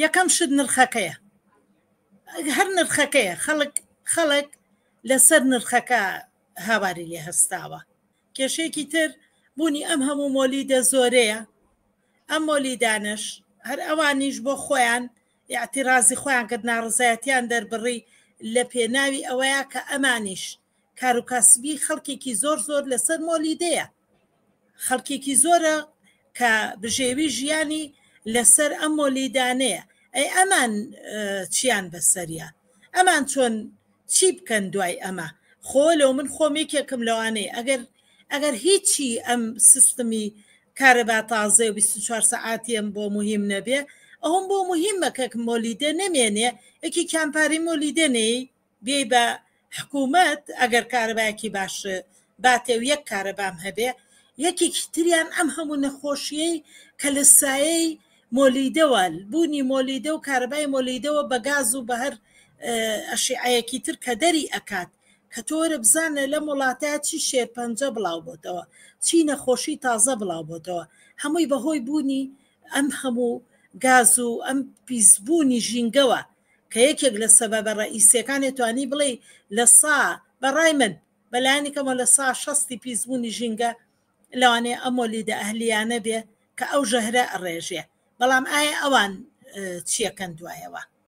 یەکەم شت نرخەکەیە هەر نرخەکەیە خەڵک خەڵک لەسەر نرخەکە هاواری لێ هەستاوە کێشێکی تر بوونی ئەم هەموو مۆلیدە زۆرەیە ئەم مۆلیدانش هەر ئەوانیش بۆ خۆیان یاعتیرازی خۆیان کرد ناڕزایەتیان دەربڕی لە پێناوی ئەوەیە کە ئەمانیش کاروکاسبی خەڵکێکی زۆر زۆر لەسەر مۆلیدەیە خەڵکێکی زۆرە کە بژێوی ژیانی لەسەر ئەم مۆلیدانەیە ئەی ئەمان چیان بەسەریا ئەمان چۆن چی بکەن دوای ئەمە خۆ لەو من خۆم یەکێکم لەوانەیە ئەگەر ئەگەر هیچی ئەم سیستمی کارەبا تازێ و 24 سەعاتیم بۆ مهم نەبێ ئەوم بۆ مهمە کەک مۆلیدە نەمێنێ یەکی کامپاری مۆلیدەنەی بیەی بە حکومەت ئەگەر کارەبایەکی باش باتێ و یەک کارەبام هەبێ یەکێکی تریان ئەم هەموو نەخۆشیەی کە لە سایەی مۆلیدەوە بوونی مۆلیدە و کارەبای مۆلیدەوە بە گاز و بە هەر ئەشیعەیەکی تر کە دەری ئەکات کە تۆ وەرە بزانە لەم وڵاتە چی شێرپەنجە بڵاو بۆتەوە چی نەخۆشی تازە بڵاو بۆتەوە هەمووی بەهۆی بوونی ئەم هەموو گاز و ئەم پیسبوونی ژینگەوە کە یەکێک لە سەبەبە ڕەئیسیەکانێ توانی بڵێی لە سا بە ڕای من بە لایەنی کەمەوە لە سا شەستی پیسبوونی ژینگە لەوانەیە ئەم مۆلیدە ئەهلیانە بێ کە ئەو ژەهرە ئەڕێژێ بەڵام ئایا ئەوان چیەکەن دوایەوە؟